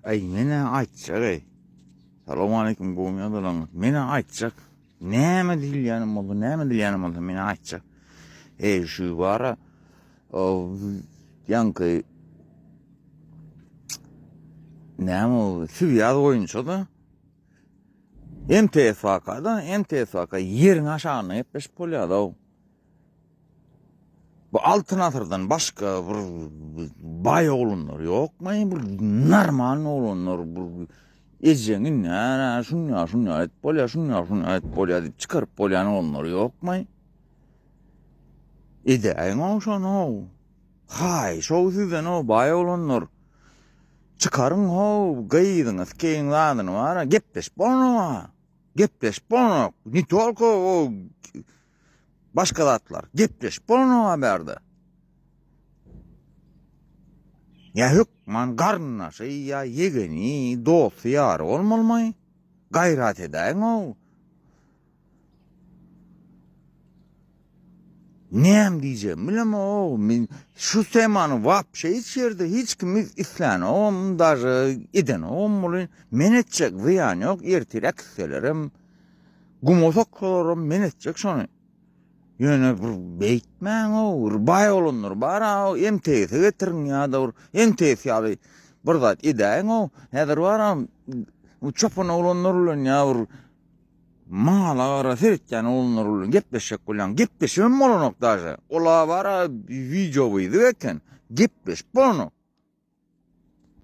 Aý menä aýtjak eý. Salowmaleýkim gowumy dolan. Menä aýtjak. Näme diýilýänem bolsa, näme diýilýänem bolsa menä aýtjak. Eý şu bara ýanky näme o süýaz boýunça da MTSK da MTSK ýeriň aşagynda gepleşip bolýar da. Bu altyn asyrdan başga bir baý oglanlar ýokmy? Bir normal oglanlar bir ejeňi nära şunýa şunýa et bolýa, şunýa şunýa et bolýa diýip çykaryp bolýan oglanlar ýokmy? Edäýiň o şonu. Haý, şo sizden o baý oglanlar. Çykaryň ho, gyzyňyz keýin zadyny bara gepleşip bolma. Gepleşip bolma. Ni tolko o Başga zatlar. Gepleşip bolanyň a bärde. Ýa hökman garyndaşy ýa ýegeni, dosty ýary bolmalymy? Gaýrat edäýiň-ow. Näme diýjegimi bilemok. Men şu temany wapşe hiç ýerde hiç kim islänogam, daže edenogam bolin. Men etjek zyýan ýok, ertirek isselerem. Guma soksalarym men etjek şony. Ýöne bir beýtmäň-ow, bir baý olanlar bar-a-ow, MTS-e getiriň ýa-da bir MTS ýaly bir zat edäýiň-ow. Häzir bar-a, bu çopan oglanlar bilen ýa bir mala gara seretýän oglanlar bilen gepleşjek bolýaň. Gepleşibem bolanok daže. Ol-a bar-a wideowyzyk eken, gepleşip bolanok.